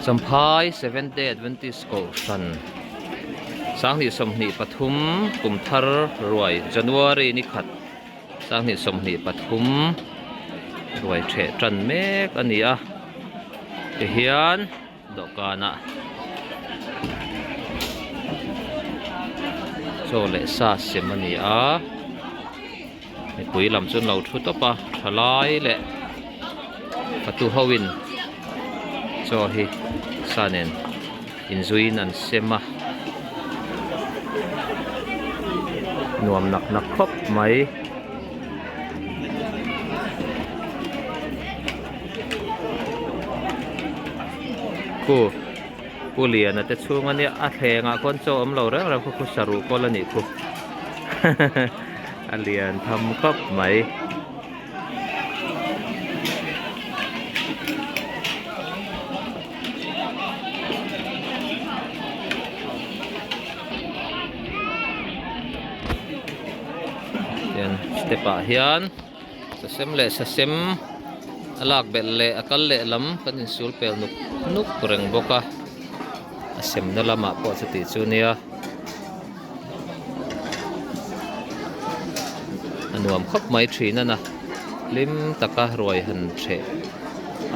Champhai Seventh Day Adventist Kohhran Sanghnih sawmhnih pathum kum thar ruai January ni khat Sanghnih sawmhnih pathum ruai theh tan mek a ni a kei hian dawhkana chaw leh sa siam a ni a. Mipui lam chu an lo thu tawp a, thalai leh hatu hoin chaw hi sa nen inzuiin an sem a. Nuam nak nak khawp mai. Khu. Pu Liana te chhung ania a thlengah khawn chaw awm lo reng reng khaw khu saru pawl a nih khu a lian tham khawp mai. Step ah hian. Sasem leh sasem a lak belh leh a kal leh lam kan insul pel nuk nuk reng bawk a, a semna lamah pawh chuti chu nia a nuam khawp mai thin a na hlim taka ruai han the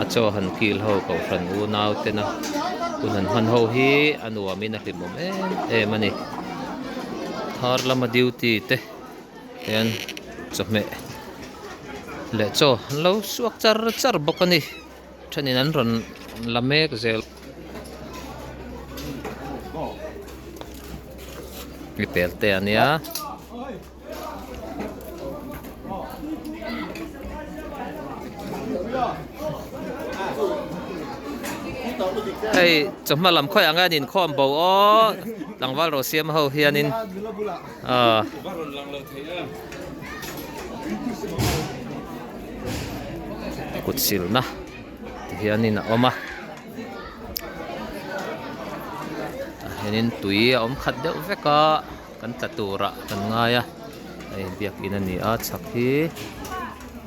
a chaw han kil ho ko hran u nau tena hun han hman ho hi a nuam in a hlimawm em em a ni. Thar lama duty te. Hian chawhmeh leh chaw an lo suak char char bawk a ni. Thenin an rawn la mek zel. I pel teh a nia. Hei chawhma lam khawiah ang hian inkhawm bo aw tlangval rawh siam ho hianin. kut silna tih hianin a awm a tah hianin tui a awm khat deuh vek a kan tla turah kan ngai a hei biakin a ni a chhak hi.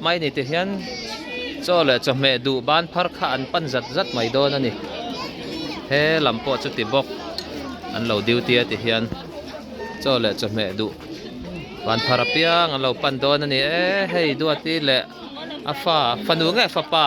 Hmaini te hian chaw leh chawhmeh duh ban phar kha an pan zat zat mai dawn a ni. He lam pawh chuti bawk, an lo duty a ti hian chaw leh chawhmeh duh ban phar apiang an lo pan dawn a ni e. Hei Duati leh a fa, fanu nge fapa?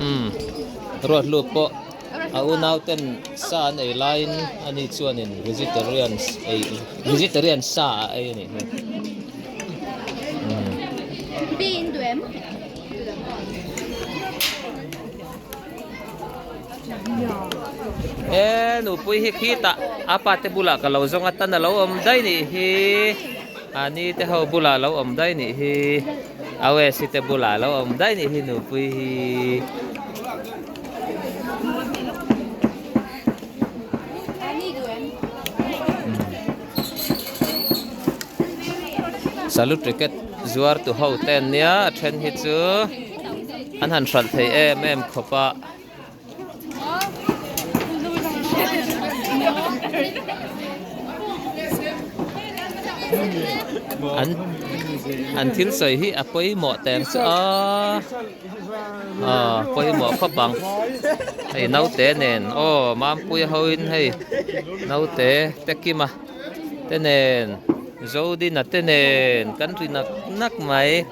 Umm. Ruatluk pawh a unauten sa an ei laiin ani chuanin vegetarians ei vegetarian sa a ei a nih hmel. E nupui hi khi tah a pate bulah ka lo zawng a tan a lo awm daih nih hi. Ani te ho bulah lo awm daih nih hi, Awesi te bulah lo awm daih nih hi nupui hi. Salute Cricket zuartu ho ten nia a then hi chu an han hralh thei em em khawpa. An thil sawi hi a pawimawh teng chu a, aw pawimawh khawp ang hei naute nen aw Mampuia hoin hei naute Tekima te nen Zodina te nen kan ri nak nak mai.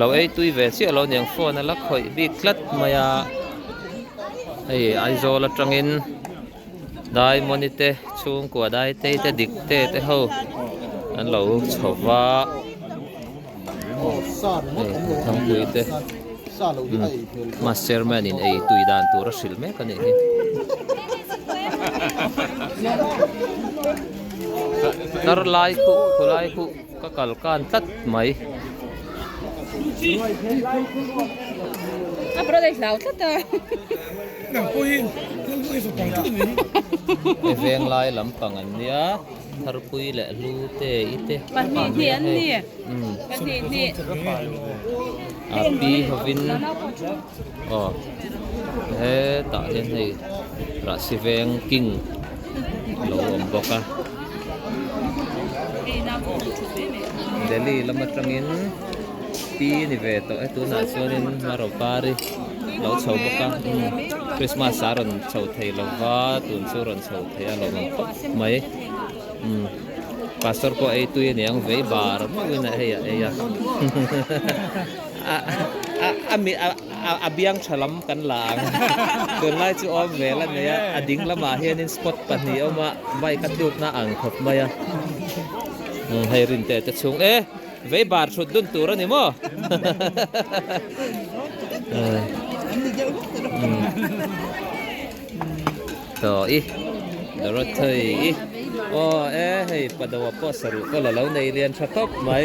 lo eitui ve chiah lo niang phone a la khawih bik tlat mai a hei aizawl atangin dai mawni te chhungkua daitei te dikte te ho an lo chho va hei thangpui te master man in eitui dan tur a hrilh mek a nih hi tarlai khuh khulai khuh Ka kal kan tlat mai. A brother hlau tlat a. Nang pawh hi khawl buai zawk ang tlat mai hi. I veng lai lampang an nia. Tharpui leh Hlute i te. Pahnih hnih an ni. Pahnih hnih. Api hovin. Aw he tah hian hei Rahsiveng king a lo awm bawk a, Delhi lam atangin pi a ni ve tawh e, tunah chuanin Hmaro Pari a lo chho bawk a, Krismas a rawn chho thei lo va, tun chu rawn chho thei a lo awm khawp mai, umm Pastor pawh a ei tui a niang vei bar meuhin a hei a ei a. A biang tha lam kan la ang. Tunlai chu awm ve la nei a, a ding lamah hianin spot pahnih a awm a, bike a tlukna a ang khawp mai a. Hei rin te te chhung e, vei bar hrut dun tur a ni maw? Tawh i, Dorothy i. Aw e, hei pa do a pawh saruh pawh la lo nei lian tha khawp mai.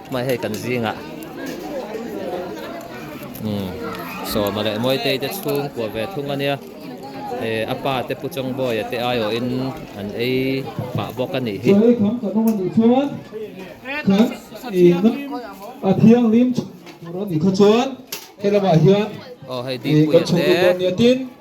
Mai hei kan zinga umm sawma leh mawitei te chhung kuah ve thung ania eh apa te pu chawngbawi te aiawh in an ei fah bawk a nih hi. Chawlei kham ka nawm a nih chuan kan inrim a thianghlim tha tur a nih kha chuan helamah hian kan chhungkut dawn nia tin.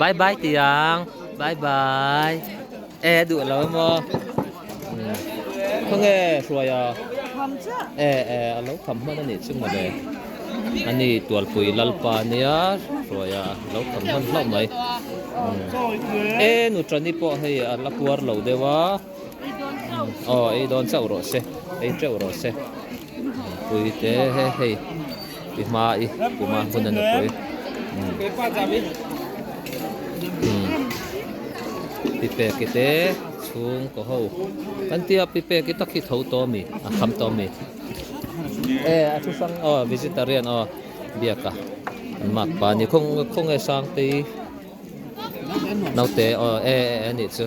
Bye bye tiang bye bye e a duh lo maw khawnge hruai a e e a lo kham hman a nih chu mawle a ni tualpui lalpa nia hruai a a lo kham hman hlauh mai e nutra ni pawh hei a la kuar lo deuh a. I dawn chauh si tawh. I dawn chauh rawh se. Ei teuh rawh se. Nupui te he hei i hma i kum a hun a nupui. Pipeki te chhung ka ho. Kan ti a pipeki tak hi tho tawh a mi a kham tawh a mi. E a thu sang aw vegetarian aw biaka an mak pa ni khawnge sangtei naute aw e a nih chu.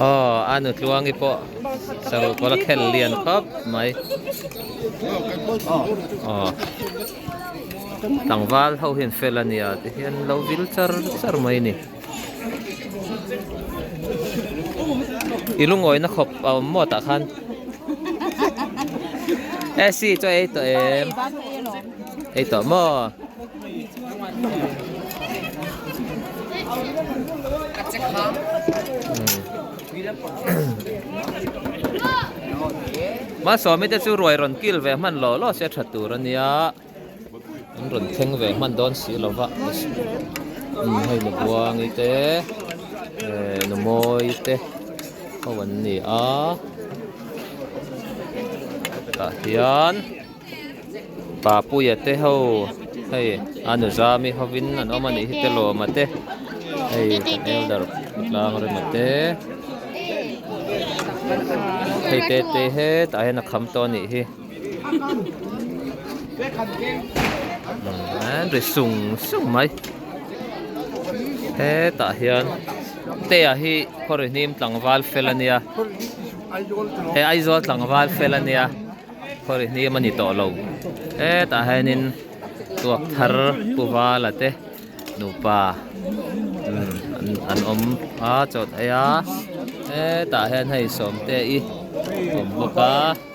Aww a nutluangi pawh sarukawr a khel lian khawp mai aww tlangval ho hian fel a nia tihian lo vil char char mai a ni. I lungawina khawp a awm maw tah khan? SC chu a ei tawh em? Ei tawh maw? Mahsawmite chu ruai rawn kil ve hman law law se a that tur a nia. An rawn thleng ve hman dawn si lo va, hei nu buangi te eh nu mawi te ho an ni a, tah hian pa puia te ho hei a nu zami hovin an awm a nih hi te lawma te hei elder pa tlang rema te hei te te hetah hian a kham tawh a nih hi. ri sung sung mai hetah hian teah hi khaw ri hnim tlangval fel a nia he aizawl tlangval fel a nia khaw ri hnim a ni tawh lo hetah hianin tuak thar pu vala te nupa an awm a chawt eia hetah hian hei sawmteii a awm bawk a.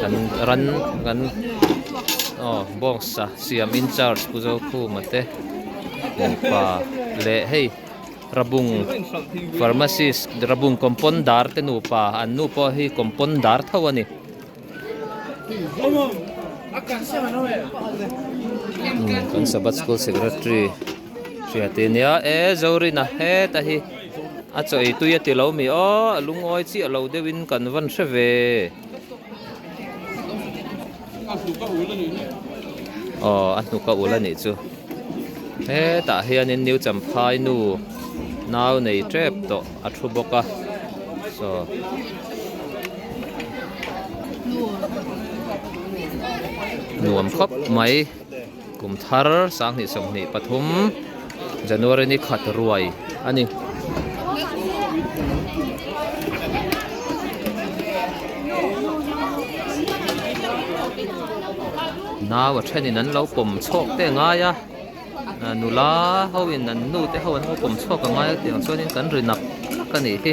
Kan ran kan aw bawngsa siam in charge pu zokhuma te nufa leh hei rabung pharmacist rabung compounder te nufa an nu pawh hi compounder tho a ni kan sabat school secretary -- Hria ti nia e Zorina heta hi a chawi tui a ti lo mi aw a lungawi chiah lo deuh in kan van hre ve aw a hnuk a ul a nih chu hetah hian in New Champhai nu nau nei tep tawh a thu bawk a chaw nuam khawp mai. Kum thar sanghnih sawmhnih pathum January ni khat ruai a ni. Nau a thenin an lo pawm chhawk teh ngai a, nula hoin an nu te ho an lo pawm chhuak a ngai a tiang chuan kan ri nap hlak a nih hi.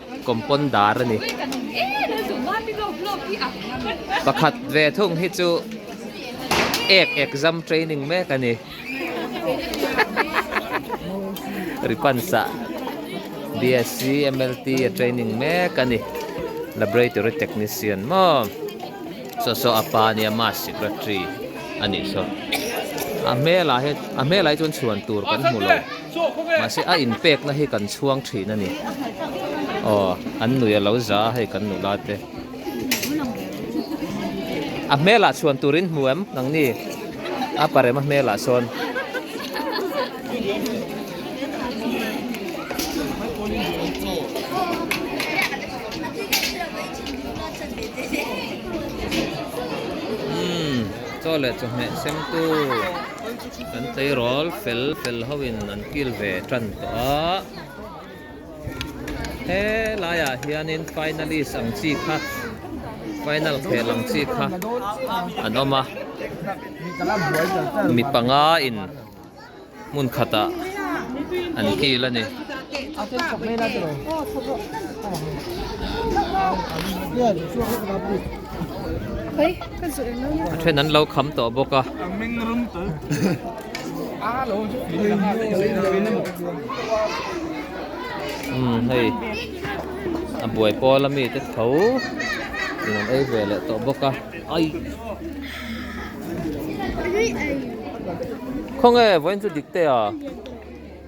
Compound dar a ni. Pakhat ve thung hi chu ek exam training mek a ni. Ri pansa BSC MLT a training mek a ni. Laboratory technician maw? Saw saw a pa nia mass secretary a nih saw. A hmelah hian a hmelah hi chuan chhuan tur kan hmu lo. Mahse a in pekna hi kan chhuang thin a ni. Aw, an nuih a lo za a hei kan nula te. A hmelah chhuan turin hmu em nang ni? A parem a hmelah sawn. Umm, chaw leh chawhmeh semtu. Kan tleirawl fel fel ho in an kil ve tan tawh a, he lai ah hian in finalist ang chi kha final khel ang chi kha an awm a, mi panga in hmun khat ah an kil a ni. a then an lo kham tawh bawk a umm hei a buai pawl a mite tho in an ei ve leh tawh bawk a ai khawnge vawiin chu dik teh a.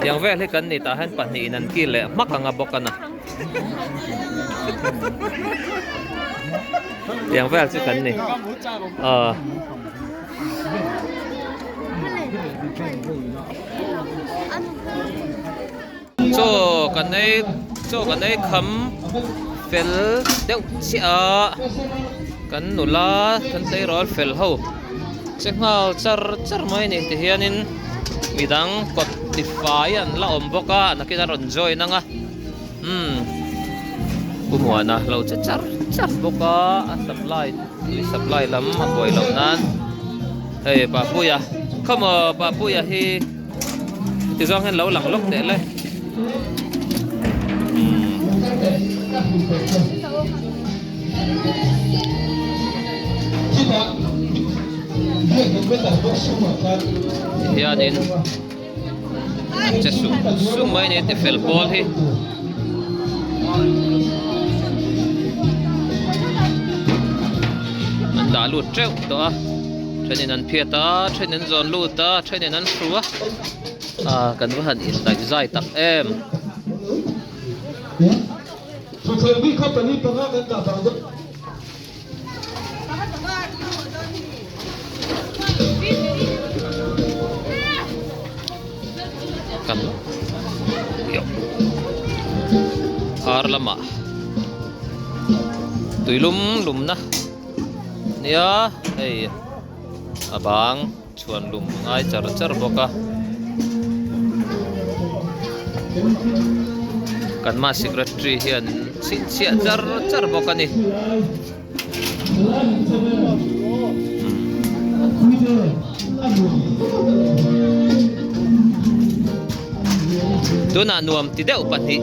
Tiang vel hi kan ni tah hian pahnih in an kil leh hmak ang a bawk a na. Tiang vel chu kan ni. Aw. Chaw kan ei chaw kan ei kham fel deuh chiaha kan nula kan tleirawl fel ho che nghal char char mai a nih ti hianin midang kawt ti fai an la awm bawk a a nakin a rawn join ang a umm pu Muana a lo che char char bawk a a supply tui supply lam a buai loh nan hei Papuia come on Papuia hi. Tizuang hian lo lang lawk tehle. Hian in Che sum sum mai ne te fel pawl hi An dah lut treuh tawh a Thenin an phiat a, thenin zawn lut a, thenin an hru a. Aaa, kan va han indaih zai tak em! Thutthleng mi kha pali panga kan dah bang deuh. Kan yoh. Ar lamah tuilum lumna. nia hei a bang chhuan lum a ngai char char bawk a kan ma secretary hian chhinchhiah char char bawk a ni tunah nuam ti deuh pahnih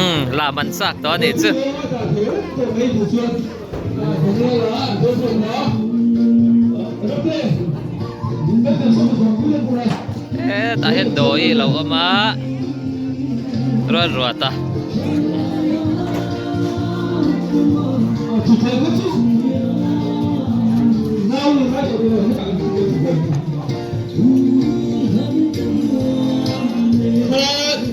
Umm, la man chak tawh a nih chu. He tah hian dawi hi a lo awm a, ruat ruat a.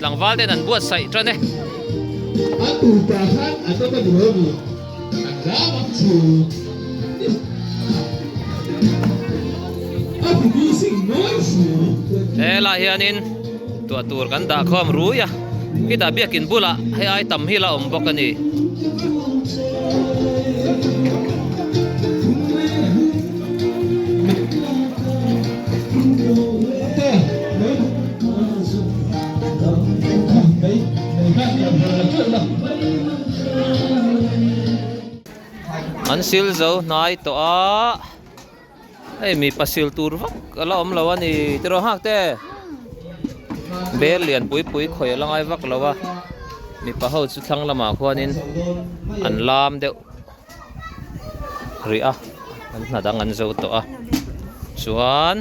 Tlangval ten an buatsaih tan e. A tupa khan an awm a ni ho ni? An ram ang chu. A ti ni sing nuai si. He lah hianin tuah tur kan dah khawm rui a. Khi dah biak in bulah hei ai tam hi la awm bawk a ni. An sil zo hnai tawh a hei mi pa sil tur vak a la awm lo a ni tiraw hak te bel lian pui pui khawih a la ngai vak lo a mipa ho chu thlang lamah khuanin an lam deuh. rih a an hnat ang an zo tawh a chuan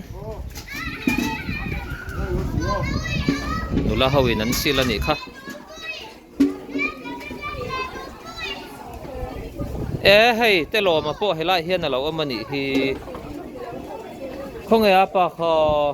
nula ho in an sil a nih kha e hei telawma pawh helai hian a lo awm a nih hi khawnge a pa khaw.